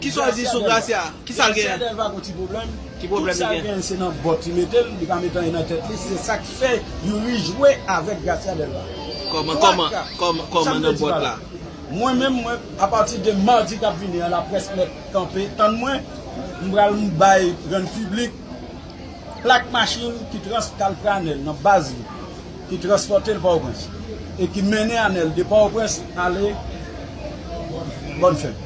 Kisa w di sou Gracia? Kisa l genyen? Gracia Delva gon ti pwoblèm. Ki pwoblèm li genyen? Tout sa l genyen se nan bòt li mete l, li pa met anyen nan tèt li, se sa k fè Youri jwe avèk Gracia Delva. Kòman, kòman, kòman, kòman nan bòt la? Mwen menm, mwen, apati de madi k ap vini an laprès mèt kanpe tann mwen, m pral bay rann piblik. plak machin ki trans kalfè anèl nan baz li ki transpòte l Pòtoprens e ki mennen anèl de Pòtoprens ale Bòn Fèt.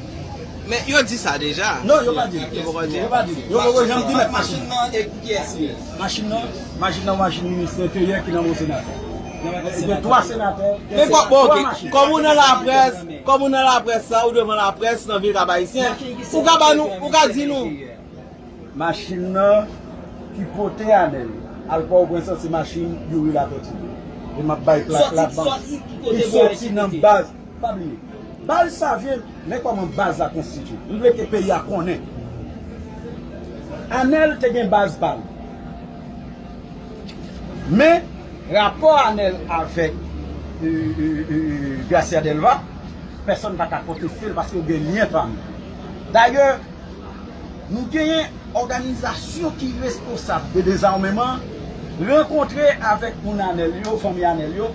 Men, yo di sa deja? Non, yo pa di l. Yo poko di l? Yo pa di l. Yo poko janm di mèt machin nan. Machin nan e pou kiyès li ye? Machin nan? Machin nan machin Ministè Enteryè ki nan men yon senatè. Li gen 3 senatè, gen 3 machin. Kòm ou nan laprès, kòm ou nan laprès la, ou devan laprès nan vil Kap Ayisyen, ou ka ba nou, ou ka di nou. Machin nan ki pote anel. Al pòwprens an se machin youri latòti ye e map bay plak la banm ki soti nan baz pa bliye baz savyen men kòman baz la konstitye m vle ke peyi a konnen anel te gen baz pal men rapò anel avèk gracia delva pèsòn paka kontestel paske yo gen lyen pami dayè Nou genyen òganizasyon ki responsab de dezarmeman rankontre avèk moun Anèl yo, fanmi Anèl yo,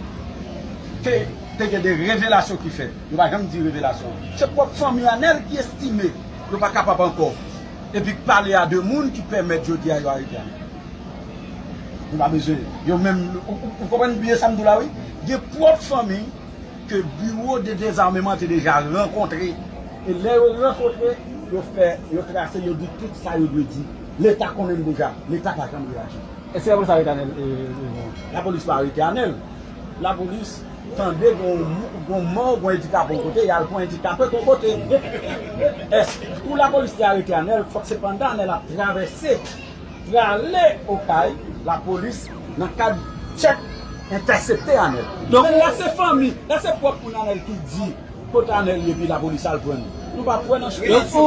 ke te gen de revelasyon ki fèt. Yo pa janm di revelasyon an. Se pwòp fanmi Anèl ki estime yo pa kapab ankò epi k pale a de moun ki pèmèt jodi a yo arete Anèl. Nou pa bezwen yo menm. Ou konprann byen sa m di w la wi? Gen pwòp fanmi. ke Biwo de Dezarmeman te deja rankontre, e lè yo rankontre, yo fè, yo trase, yo di tout sa yo dwe di. Leta konnen l deja. Leta pa janm reyaji. Eske lapolis arete Anel Herron? Lapolis pa arete Anel. Lapolis tande gen yon mò, gen yon endikape yon kote, y al pran endikape yon kote. Eske pou lapolis te arete Anel, fòk se pandan Anel ap travèse. Prale okay lapolis nan kad tchek entèsepte anel. Donk la se fanmi, la se prop moun anel ki di kot anel ye epi lapolis al prann li. Nou pa kwè nan chwa sa.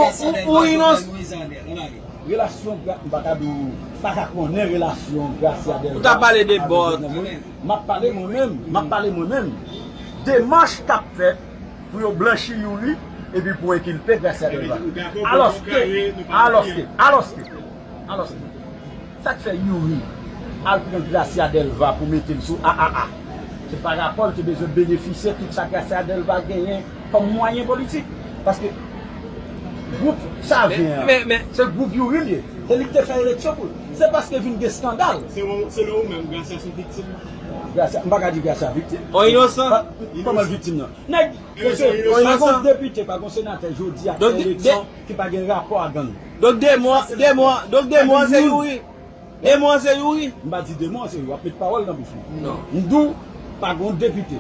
Relasyon gra m paka di w m paka konnen relasyon Gracia Delva avèk Denis nan men map pale mwen menm map pale mwen menm demach kap fèt Pou yo blanchi Youri epi pou enkilpe Gracia Delva. Alòske, alòske, alòske, alòske, sa k fè Youri al pran Gracia Delva pou mete l sou AAA? Se pa rapò l te bezwen benefisye tout sa Gracia Delva genyen kòm mwayen politik. Paske gwoup Savyen an, se gwoup Youri l ye. Se li k te fè eleksyon pou l. Se paske vin gen skandal. Selon ou menm, Gracia se yon viktim? Gracia, m pa ka di Gracia viktim. On inosan? Kòman l viktim nan? Nèg, mesye, pa gon depite, pa gon senatè jodi a k fè eleksyon ki pa gen rapò a gang. Donk demon an, demon an, donk demon an se Youri? Demon an se Youri? M pa di demon an se Youri, w ap met pawòl nan bouch mwen. Non. M di w, pa gon depite,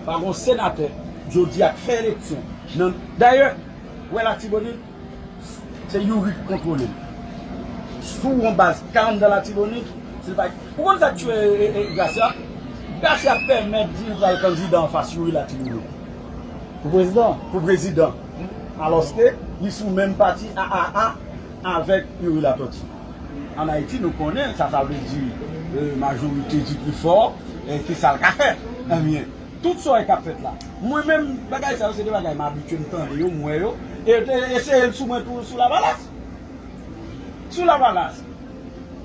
pa gon senatè jodi a k fè eleksyon nan, dayè, ou wè Latibonit? Se youri ki kontrole l. Sou yon baz kalm dan latibonit, si l pa gen. Ou konn sa k tue Gracia? Gracia pèmèt di li pral kandida anfas youri latibonit. Pou prezidan? Pou prezidan. Alòske li sou menm pati aaa avèk youri latòti. An Ayiti nou konnen sa sa vle di majorite di pi fò e ki sa l ka fè. Ebyen Tout sa yo kap fèt la. Mwen menm bagay sa yo se de bagay m abitye m tande yo, m wè yo, e yo te eseye l sou mwen tou sou lavalas. Sou lavalas.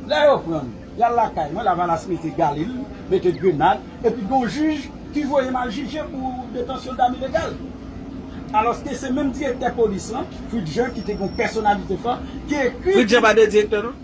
Lè yo pran m, y al lakay mwen, lavalas mete galil, mete grenad, epi gen yon jij ki voye m al jije pou detansyon dam ilegal. Alòske se menm direktè polis lan, Fritz Jean ki te gen yon pèsonalite fò, ki ekri. Fritz Jean pa te direktè non.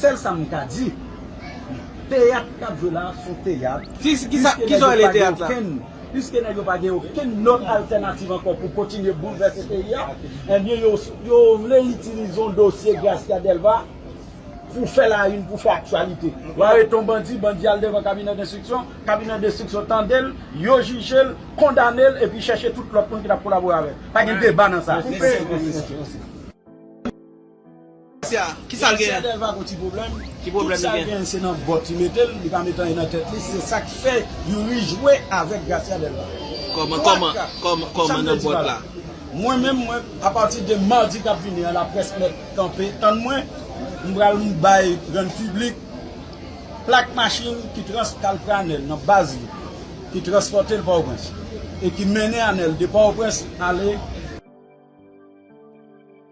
Sèl sa m ka di, teyat k ap jwe la a s on teyat, piske nèg yo pa gen okenn lòt altènativ ankò pou kontinye boulvèse peyi a, enben yo vle itilize yon dosye Gracia Delva pou fè lawin, pou fè aktyalite. Yo arete yon bandi, bandi a al devan kabinè denstriksyon, kabinè denstriksyon tande l, yo jije l, kondane l epi chèche tout lòt moun ki t ap kolabore avè l. Pa gen deba nan sa. Gracia Delva gon ti pwoblèm, tout sal genyen se nan bòt li metel, li pa met anyen nan tèt li, se sak fè Youri jwe avèk Gracia Delva. Kòman kòman kòman nan bòt la. Mwen menm mwen a pati de mardi kap vini an la près mèt kanpe tann mwen m pral bay grand piblik plak machin ki trans kal pran anèl nan baz li ki transpòtel pòtoprens e ki mennen anèl de pòtoprens ale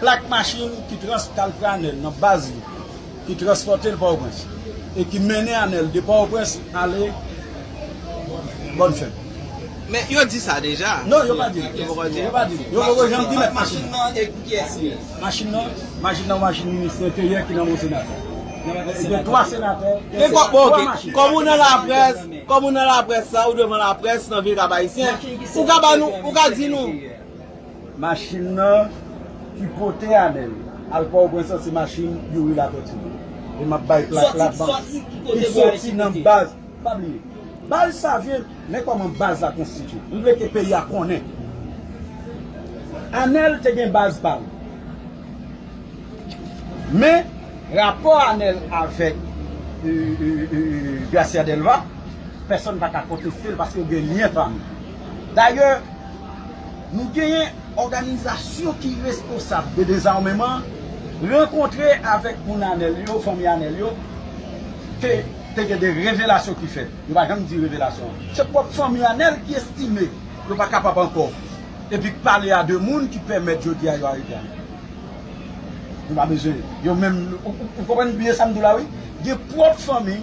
plak machin ki trans Caltraner nan baz li ki transpòte l Pòtoprens e ki mennen anèl de Pòtoprens ale Bonnefèm. Men, yo di sa deja? Non, yo pa di l. Yo poko di l? Yo pa di l. Yo poko janm di mèt machin nan. Machin nan e pou kiyès li ye? Machin nan? Machin nan machin minis enteryè ki nan men yon senatè. Li gen 3 senatè ki gen 3 machin. Kòm ou nan laprès, kòm ou nan laprès la, ou devan laprès nan vil Kap Ayisyen, ou ka ba nou, ou ka di nou. Machin nan ki pote Anel al pòtoprens lan se machin Youri Latortue e map bay plak la ki soti nan baz pa bliye baz savyen men kòman baz la konstitye m vle ke peyi a konnen Anel te gen baz pa l men rapò Anel avèk Gracia Delva pèsòn pa ka konteste l paske yo gen lyen pa m Dayè, nou genyen òganizasyon ki responsab de dezarmeman rankontre avèk moun Anèl yo, fanmi Anèl yo, ke te gen de revelasyon ki fèt. Yo pa janm di revelasyon an. Se pwòp fanmi Anèl ki estime yo pa kapab ankò, epi k pale a de moun ki pèmèt jodi a yo arete Anèl. Nou pa bezwen yo menm, ou konprann byen sa m di w la wi. Gen pwòp fanmi.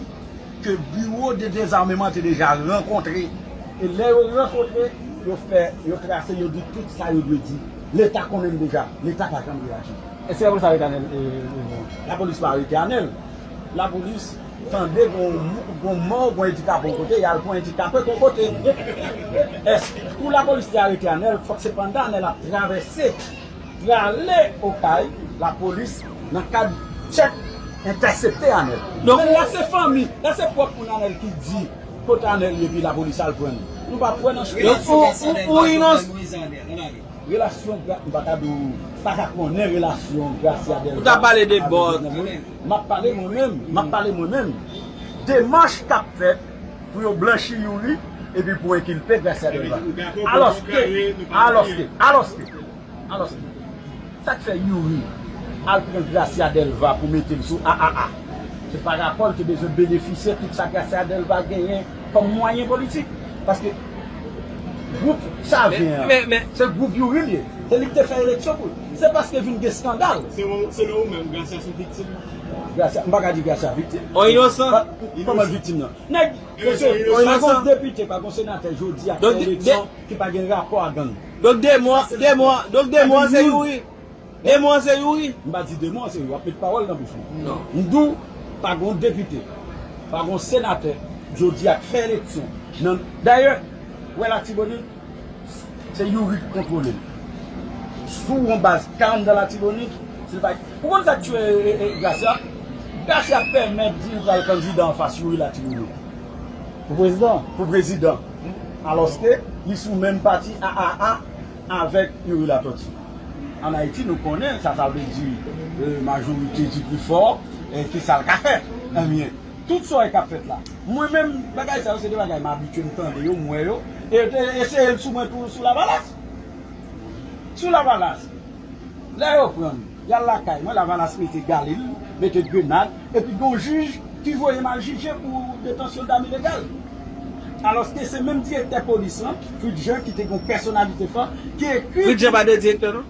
ke Biwo de Dezameman te deja rankontre. E lè yo rankontre, yo fè, yo trase, yo di tout sa yo dwe di. Leta konnen l deja. Leta pa janm reyaji. Eske lapolis arete Anel Heribert? Lapolis pa arete Anel. Lapolis tande gon mò, gon endikape yon kote, y al pran endikape yon kote. Eske, pou lapolis te arete Anel, fòk se pandan Anel ap travèse. Prale okay lapolis nan kad tchek entèsepte anel. Donk la se fanmi, la se prop moun anel ki di kot anel ye epi lapolis al pran li. Nou pa kwè nan chwa sa. Relasyon gra m paka di w m paka konnen relasyon Gracia Delva avèk Jovenel Moïse. Map pale mwen menm, map pale mwen menm. Demach kap fèt. pou yo blanchi Youri epi pou enkilpe Gracia Delva. Alòske, alòske, alòske, alòske, sa k fè Youri al pran Gracia Delva pou mete l sou AAA? Se pa rapò l te bezwen benefisye tout sa Gracia Delva genyen kòm mwayen politik. Paske, gwoup Savyen an, se gwoup Youri l ye. Se li k te fè eleksyon pou l. Se paske vin gen skandal. Selon ou menm, Gracia se yon viktim? Gracia, m pa ka di Gracia viktim. On inosan? Koman viktim nan? Nèg, mesye, pa gon depite, pa gon senatè jodi a k fè eleksyon ki pa gen rapò a gang. Donk demon an, demon an, donk demon an se Youri? Demon an se Youri? M pa di demon an se Youri, w ap met pawòl nan bouch mwen. Non. M di w, pa gon depite, pa gon senatè jodi a k fè eleksyon nan, dayè, ou wè Latibonit? Se youri ki kontrole l. Sou yon baz kalm dan latibonit, si l pa gen. Ou konn sa k tiye Gracia? Gracia pèmèt di li pral kandida anfas youri latibonit. Pou prezidan? Pou prezidan. Alòske li sou menm pati aaa avèk youri latòti. An Ayiti nou konnen sa sa vle di majorite di pi fò e ki sa l ka fè. Enbyen. Tout sa w wè k ap fèt la. Mwen menm, bagay sa yo se de bagay m abitye, m tande yo, m wè yo. E yo te eseye l sou mwen tou sou Lavalas. Sou Lavalas. Lè yo pran m, y al lakay mwen, Lavalas mete galil, mete grenad, epi gen yon jij ki voye m al jije pou detansyon dam ilegal. Alòske se menm direktè polis lan, Fritz Jean, ki te gen yon pèsonalite fò, ki ekri. Fritz Jean pa te direktè non.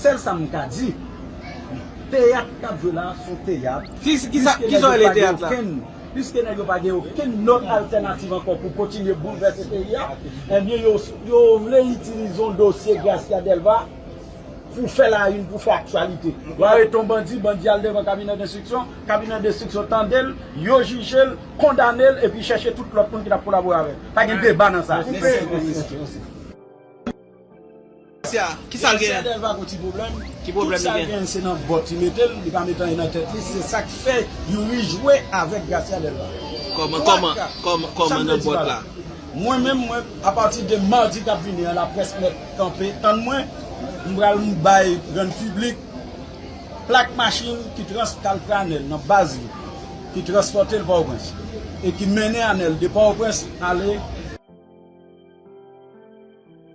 Sèl sa m ka di, teyat k ap jwe la a s on teyat, piske nèg yo pa gen okenn lòt altènativ ankò pou kontinye boulvèse peyi a, enben yo vle itilize yon dosye Gracia Delva pou fè lawin, pou fè aktyalite. Yo arete yon bandi, bandi a al devan kabinè denstriksyon, kabinè denstriksyon tande l, yo jije l, kondane l epi chèche tout lòt moun ki t ap kolabore avè l. Pa gen deba nan sa. Sia, kisal gen? Sia pa gon ti pwoblèm, tout sal gen se nan bòt li metel, li pa met anyen nan tèt li, se sak fè Youri jwe avèk Gracia Delva. Kòman, kòman, kòman, kòman nan bòt la? Mwen menm mwen, a pati de mardi kap vini an laprès mèt kanpe tann mwen, m pral bay rann piblik plak machin ki trans tal pran Anèl nan baz li, ki transpòte l Pòtoprens e ki mennen Anèl de Pòtoprens ale.